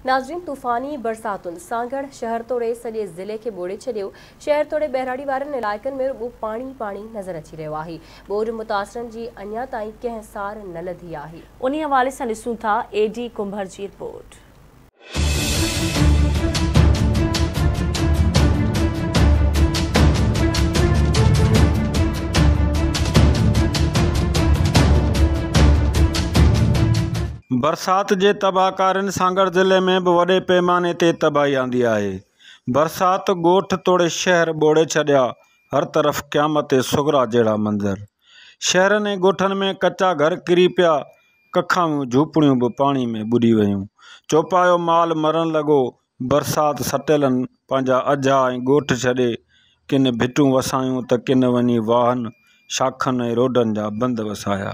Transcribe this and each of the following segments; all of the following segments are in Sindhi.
ناظرين طوفاني برساتن سانگهڙ شهر توڙي سڄي ضلعي کي ٻوڙي ڇڏيو، شهر توڙي ٻهراڙي وارن علائقن ۾ رڳو پاڻي پاڻي نظر اچي رهيو آهي، ٻوڏ متاثرن جي اڃا تائين ڪنهن سار نه لڌي آهي. انهي حوالي سان ڏسون ٿا اي ڊي ڪنڀر جي رپورٽ. برسات جي تباهڪارين سانگهڙ ضلعي ۾ به وڏي پيماني تي تباهي آندي آهي. برسات ڳوٺ توڙي شهر ٻوڙي ڇڏيا، هر طرف قيامت صغريٰ جهڙا منظر. شهرن ۽ ڳوٺن ۾ ڪچا گهر ڪري پيا، ڪکاويون جهوپڙيون به پاڻي ۾ ٻڏي ويون، چوپايو مال مرڻ لڳو، برسات سٽيلن پنهنجا اجها ۽ ڳوٺ ڇڏي، ڪن ڀٽون وسايون ته ڪن وڃي واهن، شاخن ۽ روڊن جا بند وسايا.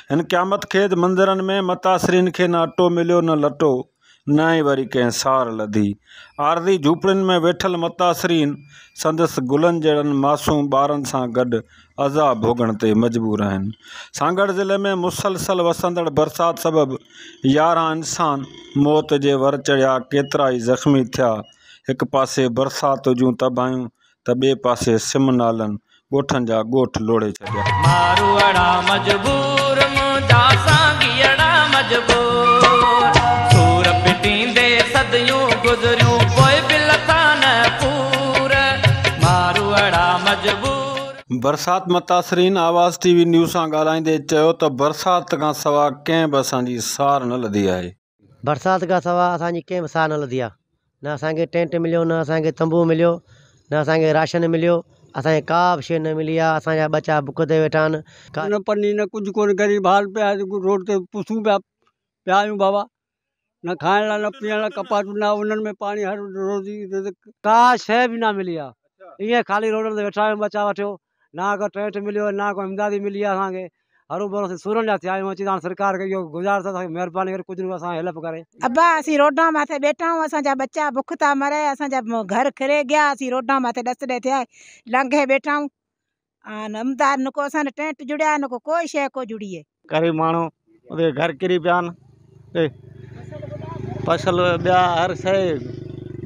هن قيامت خيز منظرن ۾ متاثرين کي نه اٽو مليو نه لٽو، نه ئي وري ڪنهن سار لڌي. عارضي جهوپڙين ۾ ويٺل متاثرين سندس گلن جهڙن معصوم ٻارن سان گڏ عذاب ڀوڳڻ تي مجبور آهن سانگهڙ ضلعي ۾ مسلسل وسندڙ برسات سبب يارهن انسان موت جي ور چڙهيا ڪيترا ئي زخمي ٿيا هڪ پاسي برسات جون تباهيون ته ٻئي پاسي سم نالن ڳوٺن جا ڳوٺ لوڙهي ڇڏيا. ماروئڙا مجبور منهنجا سانگيئڙا مجبور سور پٽيندي صديون گذريون پوء به لٿا نه پور ماروئڙا مجبور. برسات متاثرين آواز ٽي وي نيوز سان ڳالهائيندي چيو ته برسات کان سوا ڪنهن به اسان جي سار نه لڌي آهي. برسات کان سوا اسان جي ڪنهن به سار نه لڌي آهي، نه اسان کي ٽينٽ مليو، نه اسان کي تنبو مليو، نه اسان کي راشن مليو، اسان کي ڪا به شيء نه ملي آهي، اسان جا ٻچا بک تي ويٺا آهن. نه پني نه ڪجهه ڪونهي غريب حال پيا آهيون روڊ تي پسون پيا پيا آهيون بابا. نه کائڻ لاء نه پيئڻ لاء ڪپاٽون نه انهن ۾ پاڻي هر روزي رزق ڪا شيء به نه ملي آهي ائين خالي روڊن تي ويٺا آهيون ٻه چار وٺيو نه ڪو ٽينٽ مليو آهي نه ڪو امدادي ملي آهي اسان کي هرو ڀرو اسين سورن جا ٿيا آهيون اچي هاڻ سرڪار کي اهو گذارش اٿس مهرباني ڪري ڪجهه نه اسان هيلپ ڪري. ابا اسين روڊان ماٿي ٻيٺا آهيون اسان جا ٻچا بک ٿا مري اسان جا گهر ڪري گيا اسين روڊان ماٿي ڏس ڏي ٿيا لانگهي ٻيٺا آهيون آن امداد نڪو اسان ڏي ٽينٽ جڙيا آهن نڪو ڪوئي شيء ڪو جڙي اهي غريب ماڻهو ادي گهر ڪري پيا آهن اي فصل ٻيا هر شيء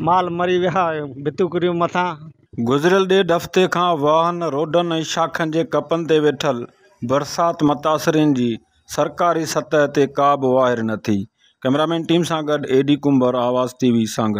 مال مري ويا ڀتيون ڪريون مٿان گذريل ڏيڍ هفتي کان واهن، روڊن ۽ شاخن جي ڪپن تي ويٺل برسات متاثرين جي سرڪاري سطح تي ڪا به واهر نه ٿي، ڪئميرامين ٽيم سان گڏ اي ڊي ڪنڀر، آواز ٽي وي، سانگهڙ.